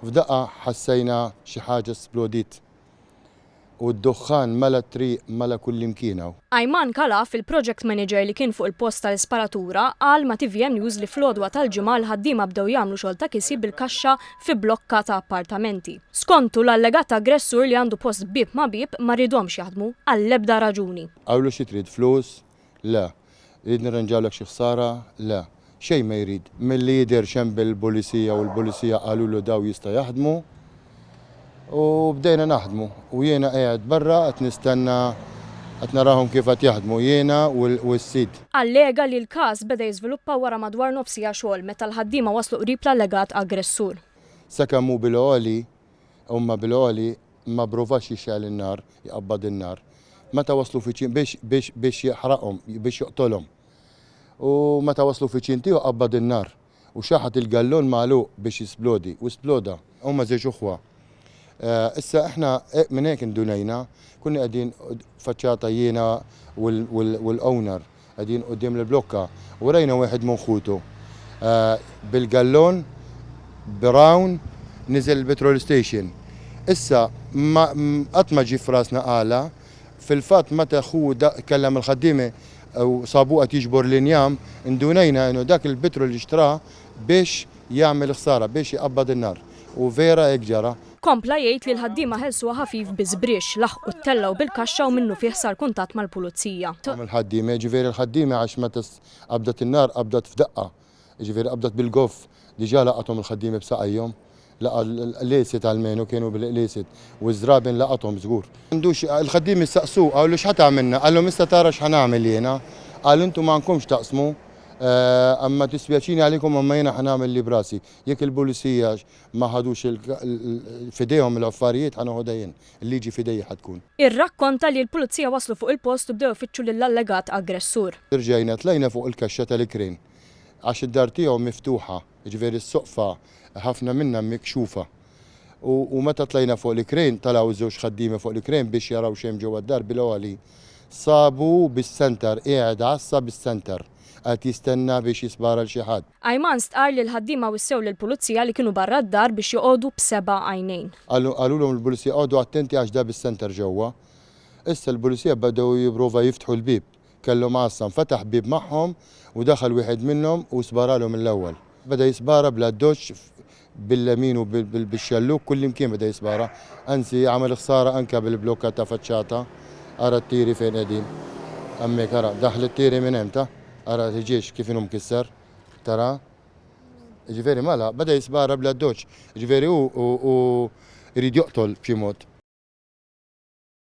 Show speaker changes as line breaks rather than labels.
F'daqqa ħassejna xi ħaġa splodiet u d-duħħan mela t-triq, mela kullimkien hawn. Ayman Khalaf,
il-project manager li kien fuq il-post tal-isparatura, qal ma' tvm News li fl-għodwa tal-Ġimgħa l-ħaddiema bdew jagħmlu xogħol ta' kisji bil-kaxxa fi blokka ta' appartamenti. Skontu, l-allegat aggressur li għandu post b'bieb ma' bieb ma riedhomx jaħdmu għall-ebda raġuni. Qawlu xi trid
flus, Le. Irid nirranġawlek xi ħsara? Le. Xejn ma jrid. Milli jidher x'hemm bil-Pulisija u l-Pulisija qalulu daw jista' jaħdmu. U bdejna naħdmu. U jiena qiegħed barra qed nistenna qed narahom kif qed jaħdmu jiena u s-sid. Allega li l-każ
beda jiżviluppa wara madwar nofs siegħa xogħol meta l-ħaddiema waslu qrib l-allegat aggressur. Sakemm hu
bil-għoli, huma bil-għoli, ma pprovax jixgħel in-nar, jqabbad in-nar. Meta waslu fiċin, biex, biex, biex jaħraqhom, biex joqtolhom. U meta waslu fiċin tiegħu qabbad in-nar, u xaħat il-gallun magħluq biex jisplodi, u sploda. Huma żewġ uħwa. Issa aħna minn hekk indunajna, konna qegħdin faċċata jiena u l-owner. Qegħdin quddiem l-blokka u rajna wieħed minn ħutu bil-gallon brown niżel il-petrol station. Issa, ma qatt ma ġie f'rasna għala. Fil-fatt meta ħu tkellem mal-ħaddiema u sabuh qed jiġbor l-injam, indunajna inhu dak il-petrol li xtrah biex jagħmel ħsara, biex iqabbad in-nar. U vera hekk ġara, Kompla jgħid li
l-ħaddiema ħelsuha ħafif bi żbrixx, laħqu t-tella u bil-kaxxa u minnufih sar kuntatt mal-Pulizija. Kemm il-ħaddiema, jiġifieri
l-ħaddiema għax meta qabdet in-nar qabdet f'daqqa, jiġifieri qabdet bil-goff, diġà laqathom il-ħaddiema b'saqajhom, laqgħa l-qliesiet almenu kienu bil-qliesiet u ż-żraben laqathom żgur. Il-ħaddiema staqsuh, qawlu x'ħa tagħmilna? Qalhom issa tara x'ħa nagħmel jiena. Qal intom għandkomx taqsmu, imma dispjaċini għalikom imma jiena ħa nagħmel li b'rasi. Jekk il-Pulizija ma ħadux f'idejhom l-affarijiet ħa noħodha jien, il-liġi f'idejja ħa tkun. Irrakkonta li
l-Pulizija waslu fuq il-post u bdew ifittxu lill-allegat aggressur. Rġajna tlajna fuq
il-kaxxa tal-ikrien għax id-dar tiegħu miftuħa, jiġifieri s-soqfa ħafna minnha mikxufa, u meta tlajna fuq l-ikrien talgħu żewġ ħaddiema fuq l-ikrien biex jaraw x'hemm ġewwa d-dar bil-għoli sabu bis-Centre qiegħed għassa bis-Centre. Qagħad jistenna biex jispara 'l xi ħadd. Ayman stqarr li
l-ħaddiema wissew lill-Pulizija li kienu barra d-dar biex joqogħdu b'seba' għajnejn. Qalulhom il-Pulizija
qogħdu attenti għax deheb is-center ġewwa. Issa l-Pulizija bdew jipprova jiftħu l-bieb. Kellhom għassa, nfetaħ bieb magħhom u daħal wieħed minnhom u sparalhom mill-ewwel. Beda jispara bl-addoċċ bil-lemin u bil-xellug kullimkien beda jispara. Anzi, għamel ħsara anke bil-blokka ta' faċċata. Ara t-tiri fejn qegħdin. Hemmhekk, ara, daħlu t-tiri minn hemm, ta? Ara l-ħġieġ kif inhu mkisser. Tara? Jiġifieri mela, beda jispara bla ddoċċ. Jiġifieri hu jrid joqtol b'xi mod.